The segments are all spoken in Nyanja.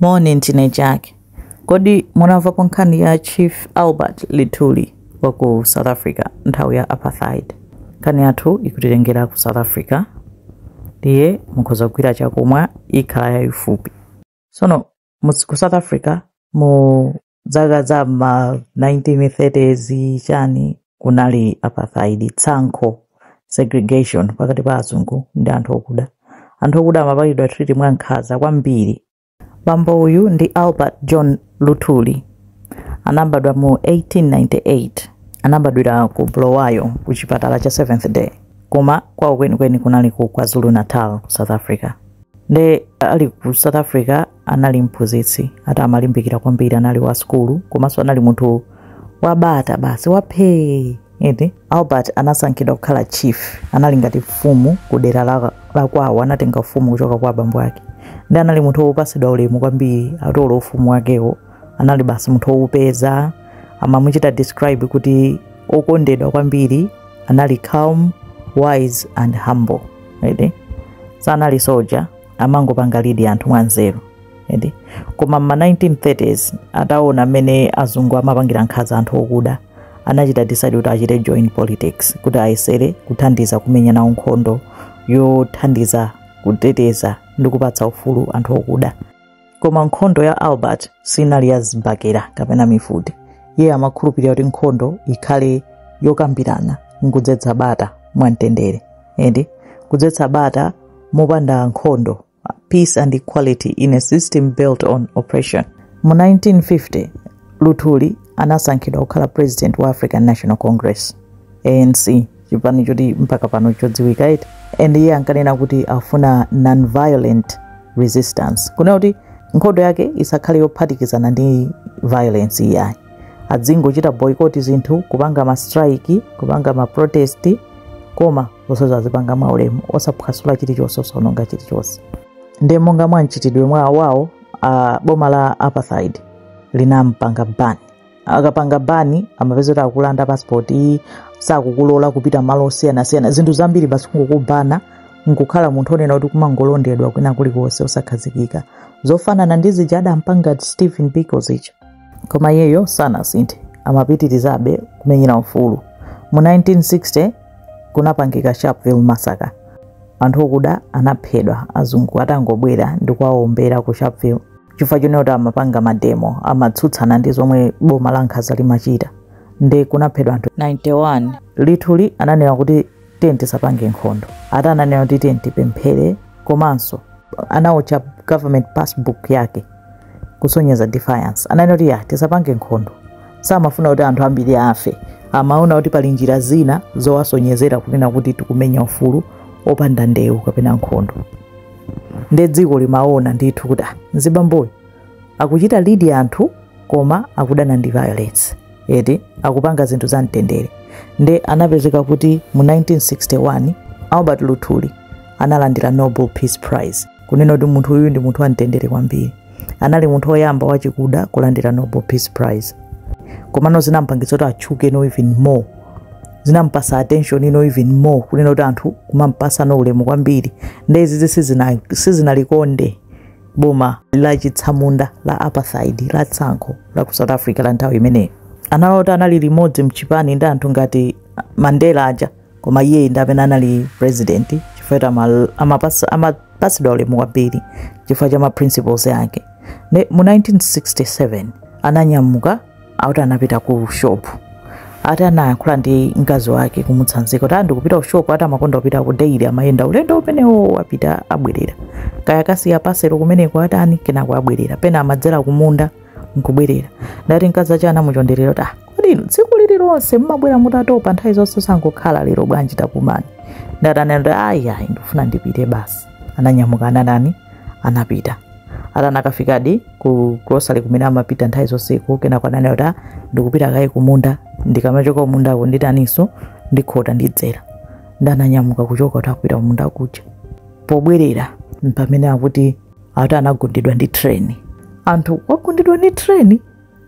Moni, ndine Jack. Kodi munamvapo nkhani ya Chief Albert Luthuli wa ku South Africa nthawi ya Apartheid? Nkhani yathu ikutitengera ku South Africa ndiye mukhoza kugwira chakumwa ikhala yayifupi. Tsono mus- ku South Africa mu dzaka za ma 1930s chani kunali apartheid tsankho segregation pakati pa azungu ndi anthu okuda anthu okuda amapangidwa treat mwa nkhaza kwambiri bambo uyu ndi albert john luthuli anabadwa mu 1898 anabadwira ku bulawayo ku chipatala cha seventh day koma kwawo kwenikweni kunali ku kwazulu natal ku south africa nde ali ku south africa anali mphunzitsi eti amalimbikira kwambiri anali wa sukulu komanso anali munthu wabata basi waphee eti albert anasankhidwa kukhala chief anali ngati mfumu ku dera la- lakwawo anatenga ufumu kuchoka kwa abambo ake ndi anali munthu wopatsidwa ulemu kwambiri atolo ufumu wakewo anali basi munthu wowupeza amamuchita describe kuti okondedwa kwambiri anali calm wise and humble eti sanali soldier amangopanga lead anthu mwanzeru eti koma mma 1930s ataona mmene azungu amapangira nkhaza anthu okuda anachita decide kuti achite join politics kuti ayesere kuthandiza kumenya nawo nkhondo yothandiza kuteteza ndi kupatsa ufulu anthu okuda koma nkhondo ya albert sinali ya zibakera kapena mfuti iye amakhulupirira kuti nkhondo ikhale yokambirana nkudzetsa bata mwamtendere eti kudzetsa bata mopanda nkhondo peace and equality in a system built on oppression mu 1950 luthuli anasankhidwa kukhala president wa african national congress anc chipani choti mpaka pano chodziwika eti and iye ankanena kuti afuna non-violent resistance kunena kuti nkhondo yake isakhale yophatikizana ndi violence iyayi adzingochita boycott zinthu kupanga ma strike kupanga ma protest koma zonsezo azipanga mwaulemu osaphwasula chilichonse osaononga chilichonse nde monga mwa mchitidwe wawo boma la apartheid linampanga ban akakupanga ban amapezeka kuti akulanda passport eti sakukulola kupita malo osiyanasiyana zinthu zambiri basi kungokupanga nkukhala munthu onena kuti kumangolondedwa kwina kulikonse osakhazikika zofanana ndi zija anampanga stephen biko zija koma iyeyo sanasinthe amapitirizabe kumenyera ufulu mu 1960 kunapangika sharpeville massacre anthu okuda anaphedwa azungu atangobwera ndi kuwawombera ku sharpeville chifukwa chonena kuti amapanga mademo amatsutsana ndi zomwe boma la nkhaza limachita nde kunaphedwa anthu 91 luthuli ananena kuti tiye tisapange nkhondo ati ananena kuti tiye tipemphere komanso anaotcha government passbook yake kusonyeza defiance ananena kuti ya tisapange nkhondo samafuna kuti anthu ambiri afe amanena kuti pali njira zina zowasonyezera kunena kuti tikumenya ufulu opanda ndewu kapena nkhondo nde dziko limaona ndithu kuti ah, mzibamboyo akuchita lidi anthu koma akudana ndi violence eti akupanga zinthu za mtendere nde anapezeka kuti mu 1961 albert luthuli analandira nobel peace prize kunena kuti munthu uyu ndi munthu wamtendere kwambiri anali munthu woyamba wachikuda kulandira nobel peace prize komano zinampangitsa kuti atchuke no even more zinampasa attention ino even more kunena kuti anthu kumampasa no ulemu kwambiri nde izizi sizina- sizinalikonde boma la chitsamunda la apartheid la tsankho la ku south africa la nthawi imeneyo analota anali limodzi mchipani ndi anthu ngati mandela aja koma iye ndi amene anali president chifukwa choti ama- amapasa- amapasidwa ulemu kwambiri chifukwa cha ma principles ake nde mu 1967 ananyamuka akuti anapita ku shop ati anayankhula ndi mkazi wake kumutsanzika kuti ndikupita ku shop ati amakonda kupita ku daily amayenda ulendo umenewo wapita abwerera kaya kukasiya paselo kumeneko atani kenako abwerera pena amadzera kumunda nkubwerera ndati mkazi ache anamuchonderera kuti ah kodi inu tsiku lililonse mmabwera mutatopa nthawi zonse tangokhalani lero bwanji tapumani ndati anati ayi ayi ndikufuna ndipite basi ananyamuka anatani anapita ati anakafikadi ku grocery kumene amapita nthawi zonseko kenako ananena kuti "Ah, ndikupita kaye kumunda ndikamachoka kumundako nditaninso ndikhota ndidzera nde ananyamuka kuchoka kuti akupita kumunda kuja pobwerera mpamene akuti ati anagundidwa ndi treni anthu wagundidwa ndi treni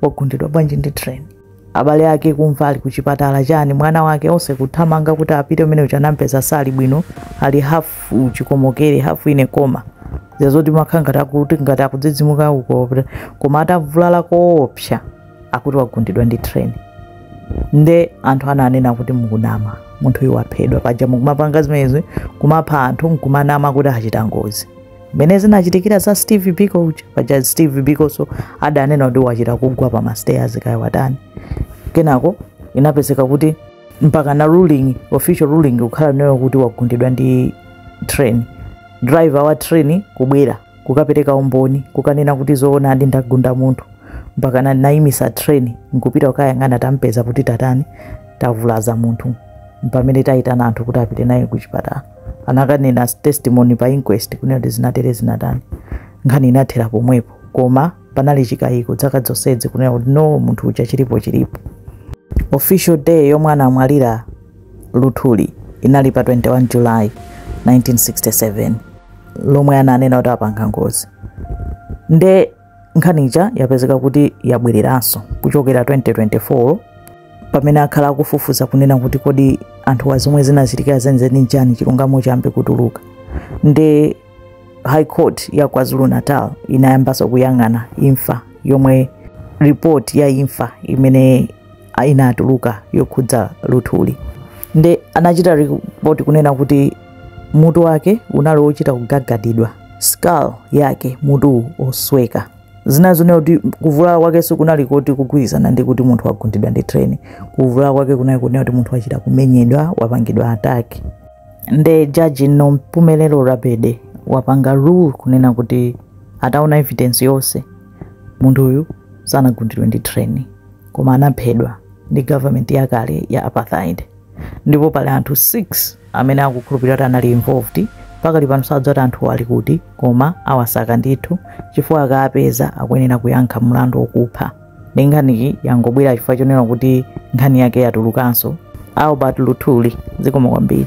wagundidwa bwanji ndi train abale ake kumva ali kuchipatala chani mwana wake onse kuthamanga kuti apite kumene kuja anampeza sali bwino ali hafu uchikomokere hafu inu koma zazoti makha ngati akuti ngati akutsitsimuka uko koma atavulala koopsa akuti wagundidwa ndi train nde anthu ananena kuti mukunama munthu uyu waphedwa paja mukumapanga zimenezi kumapha anthu nkumanama kuti achita ngozi mmene zinachitikira za steve biko uja paja steve bikonso adanena kuti wachita kugwa pa mastairs kaya watani kenako inapezeka kuti mpaka na ruling official ruling kukhala nayo kuti wagundidwa ndi train driver wa train kubwera kukapereka umboni kukanena kuti zoonadi ndagunda munthu mpaka na- nayimisa train nkupita kukayang'ana tampeza kuti tatani tavulaza munthu mpamene tayitana anthu kuti apite naye kuchipatala anakanena as testimony pa inquest kunena kuti zinatere zinatani nkhani inathera pomwepo koma panali chikayiko dzaka dzonsedzi kunena kuti no munthu uja chilipo chilipo official day yomwe anamwalira luthuli inali pa 21 july 1967 lomwe ananena kuti apanga ngozi nde nkhani ija yapezeka kuti yabwereranso kuchokera 2024 pamene akhala akufufuza kunena kuti kodi anthuwa zomwe zinachitika zenizeni nchani chilungamo chiyambe kutuluka ndi high court ya kwazulu natal inayambanso kuyang'ana imfa yomwe report ya imfa imene a inatuluka yokhudza luthuli nde anachita report kunena kuti mutu wake unali wochita kugagadidwa skull yake mutuwu osweka zina zonena kuti kuvulala kwake sikunali koti kugwirizana ndi kuti munthu wagundidwa ndi treni kuvulala kwake kunali kunena kuti munthu wachita kumenyedwa wapangidwa attack nde jaji nompumelelo radebe wapanga rule kunena kuti ataona evidence yonse munthuyu sanagundidwe ndi treni koma anaphedwa ndi government yakale ya apartheid ndipo pali anthu 6 amene akukhulupirira kuti anali involved pakali pano sadziwa kuti anthu ali kuti koma awasaka ndithu chifukwa akawapeza akuyenera kuyankha mlandu wokupha ndi nkhaniyi yangobwera chifukwa chonena kuti nkhani yake yatulukanso albert luthuli zikomo kwambiri